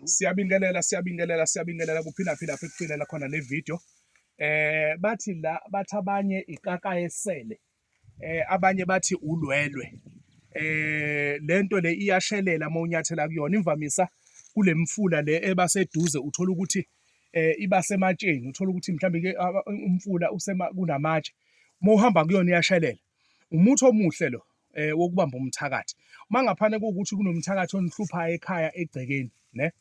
Siyabingelela siyabingelela siyabingelela kuphinda phinda fikufinela khona le video. Eh bathi la bathi abanye ikaka esele. Eh abanye bathi ulwelwe. Eh lento le iyashelela uma unyathela kuyona imvamisa kulemfula le eba seduze uthola ukuthi eh iba sematsheni uthola ukuthi mhlawumbe ke umfula usema kunamatshe. Uma uhamba kuyona iyashelela. Umuthi omuhle lo eh wokubamba umthakathi. Uma ngaphane kuwukuthi kunomthakathi onihluphayo ekhaya egcekeni, ne?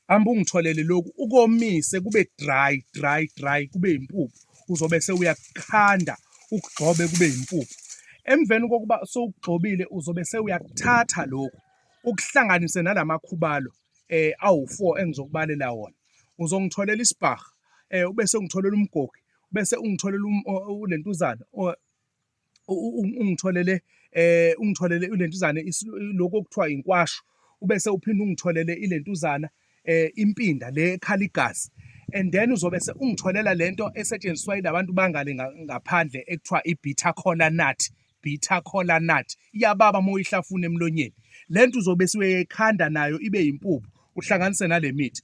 Amba ungitholele lokhu ukomise kube dry dry dry kube impuphu uzobe sewuyakukhanda ukugxobe kube impuphu. Emveni kokuba sowugxobile uzobe sewuyakuthatha lokhu ukuhlanganise nalamakhubalo eh awu4 engizokubalela wona. Uzongitholela isibhaha eh ube sengitholela umgogi bese ungitholela um, lentuzana ungitholele eh ungitholele lentuzana lokho okuthiwa inkwasho ubese uphinde ungitholele ilentuzana eh impinda le ekhala igazi and then uzobe se ungitholela lento esetshenziswa ilabantu bangale ngaphandle ekuthiwa ibitter cola nut bitter cola nut iyababa uma uyihlafuna emlonyeni lento uzobe siweyikhanda nayo ibe yimpuphu uhlanganise nale mithi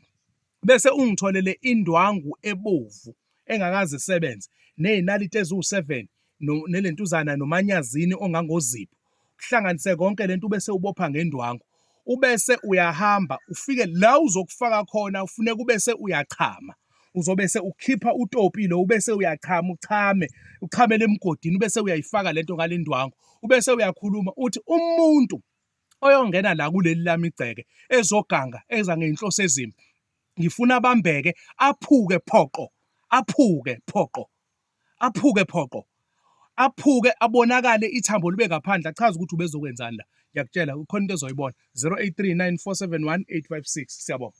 bese ungitholele indwangu ebovu engakaze isebenze nezinaliti eziwu7 nelentuzana nomanyazini ongangozipho uhlanganise konke lento bese ubopha ngendwangu ubese uyahamba ufike la uzokufaka khona ufuneka ubese uyachama uzobe se ukhipha utopi lo ubese uyachama uchame uchamele emgodini ubese uyayifaka lento ngalendwangu ubese uyakhuluma uthi umuntu oyongena la kuleli lami igceke ezoganga eza ngey'nhloso ezimbi ngifuna abambeke aphuke phoqo aphuke phoqo aphuke phoqo aphuke abonakale ithambo libe ngaphandle achaze ukuthi ubezokwenzani la ngiyakutshela khona into ezoyibona 0839 471 856 siyabonga